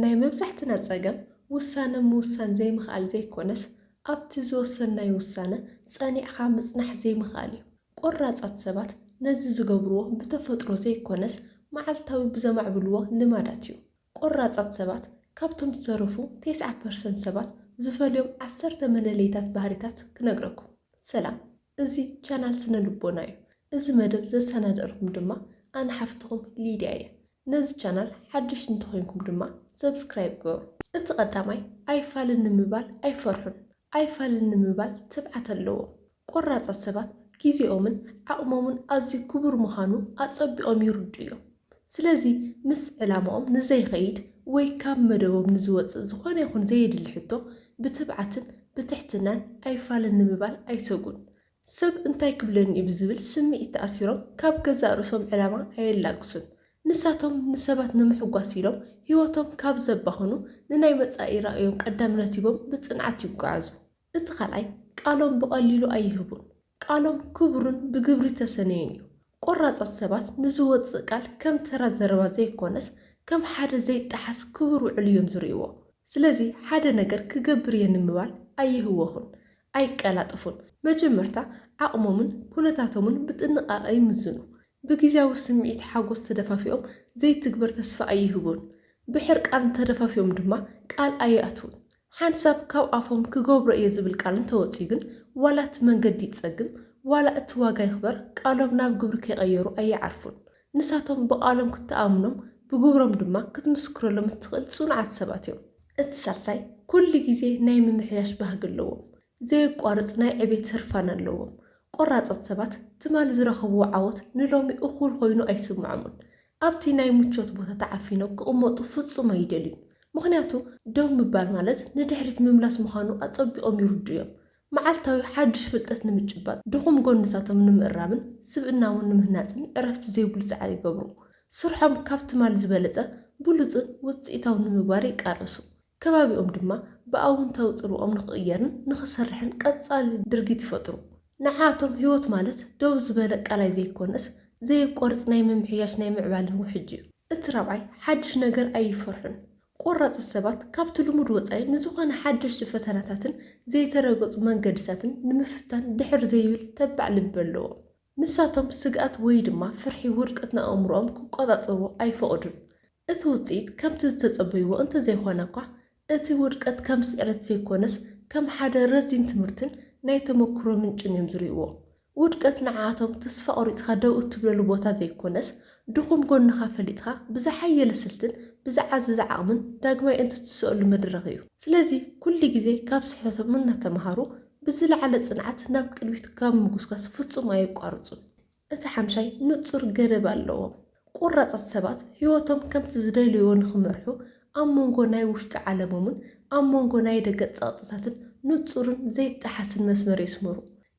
ናይ መብዛሕትና ጸገም ውሳነ ምውሳን ዘይምኽኣል ዘይኮነስ ኣብቲ ዝወሰንናዮ ውሳነ ጸኒዕኻ ምጽናሕ ዘይምኽኣል እዩ። ቆራጻት ሰባት ነዚ ዝገብርዎ ብተፈጥሮ ዘይኮነስ መዓልታዊ ብዘማዕብልዎ ልማዳት እዩ። ቆራጻት ሰባት ካብቶም ዝተረፉ ቴስዓ ፐርሰንት ሰባት ዝፈልዮም ዓሰርተ መለለይታት ባህሪታት ክነግረኩም። ሰላም እዚ ቻናል ስነ ልቦና እዩ። እዚ መደብ ዘሰናደእልኩም ድማ ኣነ ሓፍትኹም ሊድያ እየ። ነዚ ቻናል ሓደሽቲ እንተኾይንኩም ድማ ሰብስክራይብ ግበሩ። እቲ ቀዳማይ ኣይፋልን ንምባል ኣይፈርሑን። ኣይፋልን ንምባል ትብዓት ኣለዎም። ቆራፃት ሰባት ጊዜኦምን ዓቕሞምን ኣዝዩ ክቡር ምዃኑ ኣፀቢቖም ይርድኡ እዮም። ስለዚ ምስ ዕላማኦም ንዘይኸይድ ወይ ካብ መደቦም ንዝወፅእ ዝኾነ ይኹን ዘየድሊ ሕቶ ብትብዓትን ብትሕትናን ኣይፋልን ንምባል ኣይሰጉን። ሰብ እንታይ ክብለኒ እዩ ብዝብል ስምዒት ተኣሲሮም ካብ ገዛእ ርእሶም ዕላማ ኣየላግሱን። ንሳቶም ንሰባት ንምሕጓስ ኢሎም ህይወቶም ካብ ዘባኽኑ ንናይ መጻኢ ራእዮም ቀዳምነት ሂቦም ብጽንዓት ይጓዓዙ። እቲ ካልኣይ ቃሎም ብቐሊሉ ኣይህቡን። ቃሎም ክቡርን ብግብሪ ዝተሰነዩን እዩ። ቆራጻት ሰባት ንዝወጽእ ቃል ከም ተራ ዘረባ ዘይኮነስ ከም ሓደ ዘይጠሓስ ክቡር ውዕል እዮም ዝርእይዎ። ስለዚ ሓደ ነገር ክገብር እየ ንምባል ኣይህወኹን። ኣይቀላጠፉን። መጀመርታ ዓቕሞምን ኩነታቶምን ብጥንቓቐ ይምዝኑ። ብግዝያዊ ስምዒት ሓጎስ ተደፋፊኦም ዘይትግበር ተስፋ ኣይህቡን። ብሕርቃን ተደፋፊኦም ድማ ቃል ኣይኣትዉን። ሓንሳብ ካብ ኣፎም ክገብሮ እየ ዝብል ቃል እንተወጺኡ ግን ዋላ እቲ መንገዲ ይጸግም ዋላ እቲ ዋጋ ይኽበር ቃሎም ናብ ግብሪ ከይቐየሩ ኣይዓርፉን። ንሳቶም ብቓሎም ክትኣምኖም ብግብሮም ድማ ክትምስክረሎም እትኽእል ጽኑዓት ሰባት እዮም። እቲ ሳልሳይ፣ ኩሉ ግዜ ናይ ምምሕያሽ ባህጊ ኣለዎም። ዘየቋርጽ ናይ ዕቤት ህርፋን ኣለዎም። ቆራጻት ሰባት ትማሊ ዝረኸብዎ ዓወት ንሎሚ እኹል ዀይኑ ኣይስምዖምን። ኣብቲ ናይ ምቾት ቦታ ተዓፊኖም ክቕመጡ ፍጹም ኣይደልዩን። ምኽንያቱ ደው ምባል ማለት ንድሕሪት ምምላስ ምዃኑ ኣጸቢቖም ይርድኡ እዮም። መዓልታዊ ሓዱሽ ፍልጠት ንምጭባጥ፣ ድኹም ጎንታቶም ንምእራምን ስብእናውን ንምህናጽን ዕረፍቲ ዘይብሉ ጻዕሪ ይገብሩ። ስርሖም ካብ ትማል ዝበለጸ ብሉጽን ውጽኢታውን ንምግባር ይቃለሱ። ከባቢኦም ድማ ብኣውንታዊ ጽልዋኦም ንኽቕየርን ንኽሰርሕን ቀጻሊ ድርጊት ይፈጥሩ። ንዓኣቶም ህይወት ማለት ደው ዝበለ ቀላይ ዘይኮነስ፣ ዘየቋርጽ ናይ ምምሕያሽ ናይ ምዕባለን ውሕጅ'ዩ። እቲ ራብዓይ ሓድሽ ነገር ኣይፈርሑን። ቆራጻት ሰባት ካብቲ ልሙድ ወጻኢ ንዝኾነ ሓደሽቲ ፈተናታትን ዘይተረገጹ መንገድታትን ንምፍታን ድሕር ዘይብል ተባዕ ልቢ ኣለዎም። ንሳቶም ስግኣት ወይ ድማ ፍርሒ ውድቀት ንኣእምሮኦም ክቆጻጸርዎ ኣይፈቕዱን። እቲ ውጽኢት ከምቲ ዝተጸበይዎ እንተዘይኮነ'ኳ፣ እቲ ውድቀት ከም ስዕረት ዘይኮነስ ከም ሓደ ረዚን ትምህርትን ናይ ተመኩሮ ምንጭን እዮም ዝርእይዎ። ውድቀት ንዓኣቶም ተስፋ ቆሪጽካ ደው እትብለሉ ቦታ ዘይኮነስ፣ ድኹም ጎንኻ ፈሊጥካ ብዝሓየለ ስልትን ብዝዓዘዘ ዓቕምን ዳግማይ እንትትስእሉ መድረኽ እዩ። ስለዚ ኩሉ ግዜ ካብ ስሕተቶም እናተመሃሩ ብዝለዓለ ጽንዓት ናብ ቅድሚት ካብ ምጉስጓስ ፍጹም ኣየቋርጹን። እቲ ሓምሻይ ንጹር ገደብ ኣለዎም። ቆራጻት ሰባት ህይወቶም ከምቲ ዝደልይዎ ንኽመርሑ ኣብ መንጎ ናይ ውሽጢ ዓለሞምን ኣብ መንጎ ናይ ደገ ጸቕጥታትን ንጹርን ዘይጠሓስን መስመር የስምሩ።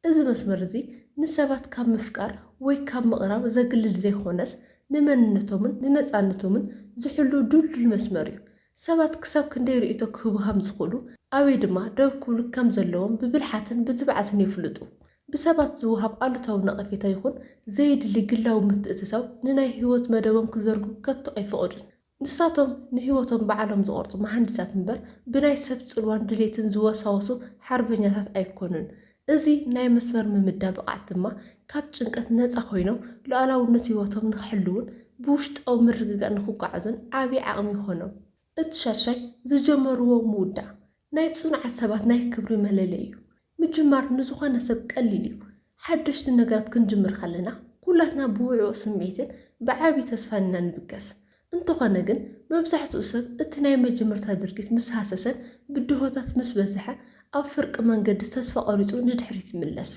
እዚ መስመር እዚ ንሰባት ካብ ምፍቃር ወይ ካብ ምቕራብ ዘግልል ዘይኮነስ ንመንነቶምን ንነጻነቶምን ዝሕሉ ድልዱል መስመር እዩ። ሰባት ክሳብ ክንደይ ርእይቶ ክህቡ ከም ዝኽእሉ ኣበይ ድማ ደው ክብሉ ከም ዘለዎም ብብልሓትን ብትብዓትን የፍልጡ። ብሰባት ዝወሃብ ኣሉታዊ ነቐፌታ ይኹን ዘየድሊ ግላዊ ምትእትታው ንናይ ህይወት መደቦም ክዘርጉ ከቶ ኣይፈቕዱን። ንሳቶም ንህይወቶም ባዕሎም ዝቖርጹ መሃንዲሳት እምበር ብናይ ሰብ ጽልዋን ድሌትን ዝወሳወሱ ሓርበኛታት ኣይኮኑን። እዚ ናይ መስመር ምምዳብ ብቕዓት ድማ ካብ ጭንቀት ነጻ ኮይኖም ሉኣላውነት ህይወቶም ንኽሕልዉን ብውሽጣዊ ምርግጋእ ንኽጓዓዙን ዓቢ ዓቕሚ ይኾኖም። እቲ ሻድሻይ፣ ዝጀመርዎ ምውዳእ፣ ናይ ጽኑዓት ሰባት ናይ ክብሪ መለለይ እዩ። ምጅማር ንዝኾነ ሰብ ቀሊል እዩ። ሓደሽቲ ነገራት ክንጅምር ከለና ኩላትና ብውዕዉዕ ስምዒትን ብዓቢ ተስፋን ኢና ንብገስ። እንተኾነ ግን መብዛሕትኡ ሰብ እቲ ናይ መጀመርታ ድርጊት ምስ ሃሰሰን ብድሆታት ምስ በዝሐ ኣብ ፍርቂ መንገዲ ተስፋ ቆሪጹ ንድሕሪት ይምለስ።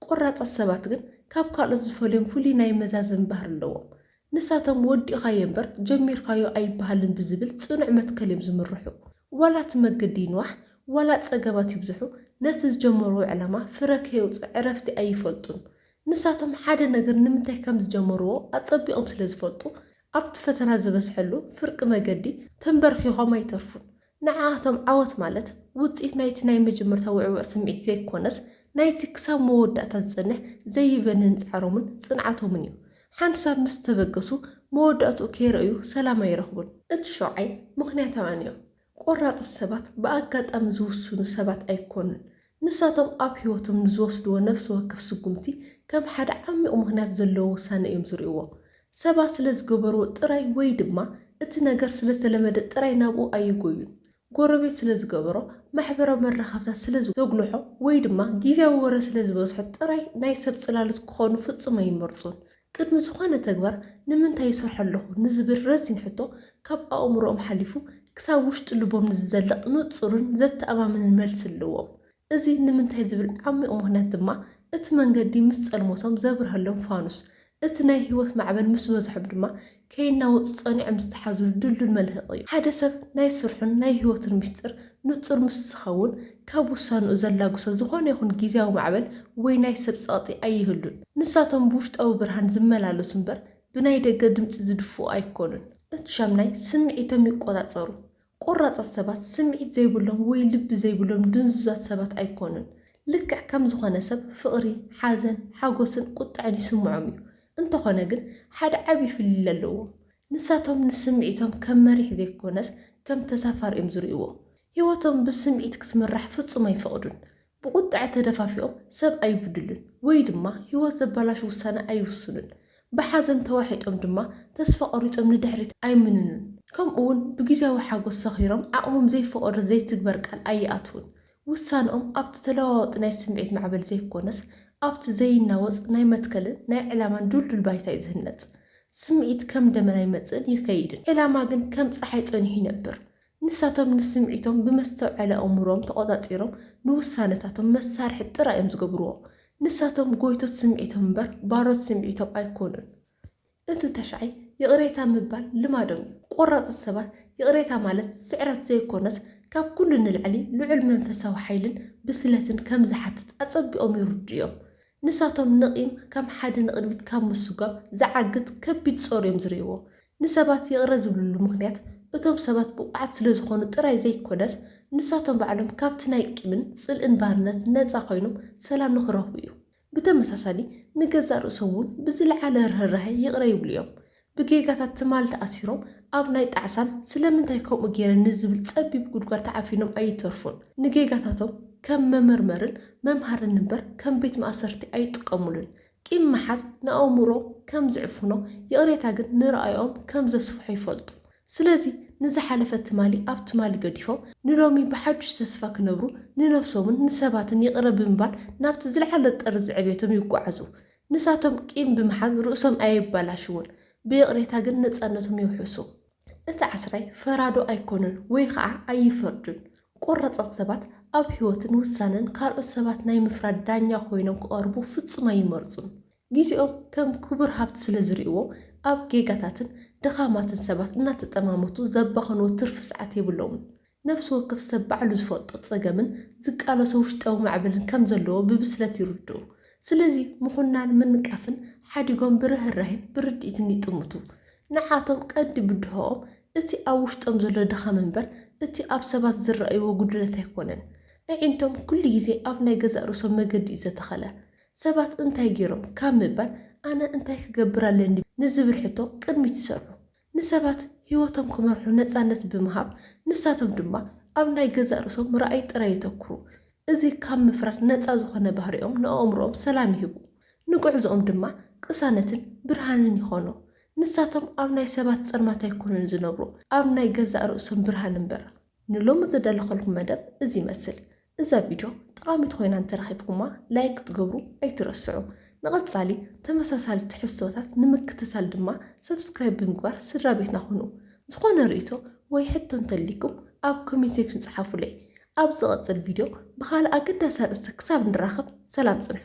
ቆራጻት ሰባት ግን ካብ ካልኦት ዝፈልዮም ፍሉይ ናይ መዛዘሚ ባህሪ ኣለዎም። ንሳቶም ወዲእኻዮ እምበር ጀሚርካዮ ኣይበሃልን ብዝብል ጽኑዕ መትከል እዮም ዝምርሑ። ዋላ እቲ መገዲ ይንዋሕ፣ ዋላ ጸገማት ይብዝሑ፣ ነቲ ዝጀመርዎ ዕላማ ፍረ ከየውጽእ ዕረፍቲ ኣይፈልጡን። ንሳቶም ሓደ ነገር ንምንታይ ከም ዝጀመርዎ ኣጸቢቖም ስለ ዝፈልጡ፣ ኣብቲ ፈተና ዝበዝሐሉ ፍርቂ መገዲ ተምበርኪኾም ኣይተርፉን። ንዓኣቶም ዓወት ማለት ውጽኢት ናይቲ ናይ መጀመርታ ውዕዉዕ ስምዒት ዘይኮነስ ናይቲ ክሳብ መወዳእታ ዝጸንሕ ዘይበንን ጻዕሮምን ጽንዓቶምን እዩ። ሓንቲ ሳብ ምስ ተበገሱ መወዳእትኡ ከይረእዩ ሰላም ኣይረኽቡን። እቲ ሸውዓይ ምኽንያታውያን እዮም። ቆራጽት ሰባት ብኣጋጣሚ ዝውስኑ ሰባት ኣይኮኑን። ንሳቶም ኣብ ህይወቶም ንዝወስድዎ ነፍሲ ወከፍ ስጕምቲ ከም ሓደ ዓሚቝ ምኽንያት ዘለዎ ውሳነ እዮም ዝርእይዎ። ሰባት ስለ ዝገበርዎ ጥራይ ወይ ድማ እቲ ነገር ስለ ዝተለመደ ጥራይ ናብኡ ኣይጐዩን። ጐረቤት ስለ ዝገበሮ፣ ማሕበራዊ መራኸብታት ስለ ዘጕልሖ ወይ ድማ ግዝያዊ ወረ ስለ ዝበዝሖ ጥራይ ናይ ሰብ ጽላሎት ክዀኑ ፍጹም ኣይመርጹን። ቅድሚ ዝኾነ ተግባር ንምንታይ ይሰርሖ ኣለኹ ንዝብል ረዚን ሕቶ ካብ ኣእምሮኦም ሓሊፉ ክሳብ ውሽጢ ልቦም ንዝዘልቕ ንጹርን ዘተኣማምንን መልሲ ኣለዎም። እዚ ንምንታይ ዝብል ዓሚቝ ምኽንያት ድማ እቲ መንገዲ ምስ ጸልሞቶም ዘብርሀሎም ፋኑስ፣ እቲ ናይ ህይወት ማዕበል ምስ በዝሖም ድማ ከይናወጹ ጸኒዖም ዝተሓዙሉ ድልዱል መልህቕ እዩ። ሓደ ሰብ ናይ ስርሑን ናይ ህይወቱን ምስጢር ንጹር ምስ ዝኸውን፣ ካብ ውሳንኡ ዘላግሶ ዝኾነ ይኹን ግዝያዊ ማዕበል ወይ ናይ ሰብ ጸቕጢ ኣይህሉን። ንሳቶም ብውሽጣዊ ብርሃን ዝመላለሱ እምበር ብናይ ደገ ድምጺ ዝድፍኡ ኣይኮኑን። እቲ ሻምናይ ስምዒቶም ይቆጻጸሩ ቆራጻት ሰባት ስምዒት ዘይብሎም ወይ ልቢ ዘይብሎም ድንዙዛት ሰባት ኣይኮኑን። ልክዕ ከም ዝኾነ ሰብ ፍቕሪ፣ ሓዘን፣ ሓጎስን ቁጥዐን ይስምዖም እዩ። እንተኾነ ግን ሓደ ዓቢ ፍልልይ ኣለዎም። ንሳቶም ንስምዒቶም ከም መሪሕ ዘይኮነስ ከም ተሳፋሪ እዮም ዝርእይዎ። ህይወቶም ብስምዒት ክትምራሕ ፍጹም ኣይፈቕዱን። ብቁጠዐ ተደፋፊኦም ሰብ ኣይብድሉን ወይ ድማ ህይወት ዘበላሹ ውሳነ ኣይውስኑን። ብሓዘን ተዋሒጦም ድማ ተስፋ ቆሪጾም ንድሕሪት ኣይምንኑን። ከምኡ'ውን ብግዝያዊ ሓጎስ ሰኺሮም ዓቕሞም ዘይፈቐዶ ዘይትግበር ቃል ኣይኣትዉን። ውሳነኦም ኣብቲ ተለዋዋጢ ናይ ስምዒት ማዕበል ዘይኮነስ ኣብቲ ዘይናወጽ ናይ መትከልን ናይ ዕላማን ድልዱል ባይታ እዩ ዝህነጽ። ስምዒት ከም ደመና ይመጽእን ይከይድን፣ ዕላማ ግን ከም ጸሓይ ጸኒሑ ይነብር። ንሳቶም ንስምዒቶም ብመስተውዐሊ ኣእምሮኦም ተቖጻጺሮም ንውሳነታቶም መሳርሒ ጥራይ እዮም ዝገብርዎ። ንሳቶም ጎይቶት ስምዒቶም እምበር ባሮት ስምዒቶም ኣይኮኑን። እቲ ተሻይ ይቕሬታ ምባል ልማዶም እዩ። ቆራጽት ሰባት ይቕሬታ ማለት ስዕረት ዘይኮነስ ካብ ኩሉ ንላዕሊ ልዑል መንፈሳዊ ሓይልን ብስለትን ከም ዝሓትት ኣጸቢቖም ይርድኡ እዮም። ንሳቶም ንቂም ከም ሓደ ንቕድሚት ካብ ምስጓም ዝዓግት ከቢድ ጾር እዮም ዝርእይዎ። ንሰባት ይቕረ ዝብልሉ ምኽንያት እቶም ሰባት ብቑዓት ስለ ዝኾኑ ጥራይ ዘይኮነስ ንሳቶም ባዕሎም ካብቲ ናይ ቂምን ጽልእን ባርነት ነጻ ኮይኖም ሰላም ንኽረኽቡ እዩ። ብተመሳሳሊ ንገዛእ ርእሶም እውን ብዝለዓለ ርህራሄ ይቕረ ይብሉ እዮም። ብጌጋታት ትማል ተኣሲሮም ኣብ ናይ ጣዕሳን ስለምንታይ ከምኡ ጌረ ንዝብል ጸቢብ ጉድጓድ ተዓፊኖም ኣይተርፉን። ንጌጋታቶም ከም መመርመርን መምሃርን እምበር ከም ቤት ማእሰርቲ ኣይጥቀሙሉን። ቂም ምሓዝ ንኣእምሮ ከም ዝዕፍኖ፣ ይቕሬታ ግን ንርኣዮኦም ከም ዘስፍሖ ይፈልጡ። ስለዚ ንዝሓለፈ ትማሊ ኣብ ትማሊ ገዲፎም ንሎሚ ብሓዱሽ ተስፋ ክነብሩ ንነብሶምን ንሰባትን ይቕረ ብምባል ናብቲ ዝለዓለ ጥርዚ ዕብየቶም ይጓዓዙ። ንሳቶም ቂም ብምሓዝ ርእሶም ኣየባላሽዉን ብይቕሬታ ግን ነጻነቶም የውሕሱ። እቲ ዓስራይ ፈራዶ ኣይኮነን ወይ ኸኣ ኣይፈርዱን። ቆራጻት ሰባት ኣብ ህይወትን ውሳነን ካልኦት ሰባት ናይ ምፍራድ ዳኛ ኮይኖም ክቐርቡ ፍጹም ኣይመርጹን። ግዜኦም ከም ክቡር ሃብቲ ስለ ዝርእይዎ ኣብ ጌጋታትን ድኻማትን ሰባት እናተጠማመቱ ዘባኽንዎ ትርፊ ሰዓት የብሎምን። ነፍሲ ወከፍ ሰብ ባዕሉ ዝፈልጦ ጸገምን ዝቃለሶ ውሽጣዊ ማዕበልን ከም ዘለዎ ብብስለት ይርድኡ። ስለዚ ምኹናን ምንቃፍን ሓዲጎም ብርህራሄን ብርድኢትን ይጥምቱ። ንዓቶም ቀንዲ ብድሆኦም እቲ ኣብ ውሽጦም ዘሎ ድኻም እምበር እቲ ኣብ ሰባት ዝረኣይዎ ጉድለት ኣይኮነን። ኣዒንቶም ኩሉ ግዜ ኣብ ናይ ገዛእ ርእሶም መገዲ'ዩ ዘተኸለ። ሰባት እንታይ ገይሮም ካብ ምባል ኣነ እንታይ ክገብር ኣለኒ ንዝብል ሕቶ ቅድሚት ይሰርዑ። ንሰባት ህይወቶም ክመርሑ ነጻነት ብምሃብ፣ ንሳቶም ድማ ኣብ ናይ ገዛእ ርእሶም ምርኣይ ጥራይ የተኵሩ። እዚ ካብ ምፍራድ ነጻ ዝዀነ ባህሪኦም ንኣእምሮኦም ሰላም ይህቡ፣ ንጕዕዞኦም ድማ ቅሳነትን ብርሃንን ይዀኖ። ንሳቶም ኣብ ናይ ሰባት ጸልማት ኣይኰኑን ዝነብሩ፣ ኣብ ናይ ገዛእ ርእሶም ብርሃን እምበር። ንሎሚ ዝደለኸልኩም መደብ እዚ ይመስል። እዛ ቪድዮ ጠቓሚት ኮይና እንተረኺብኩማ ላይክ ክትገብሩ ኣይትረስዑ። ንቐጻሊ ተመሳሳሊ ትሕዝቶታት ንምክትታል ድማ ሰብስክራይብ ብምግባር ስድራቤትና ኩኑ። ዝኾነ ርእይቶ ወይ ሕቶ እንተልይኩም ኣብ ኮሜንት ሴክሽን ጽሓፉለይ። ኣብ ዝቕጽል ቪድዮ ብኻልእ ኣገዳሲ ኣርእስቲ ክሳብ ንራኸብ ሰላም ጽንሑ።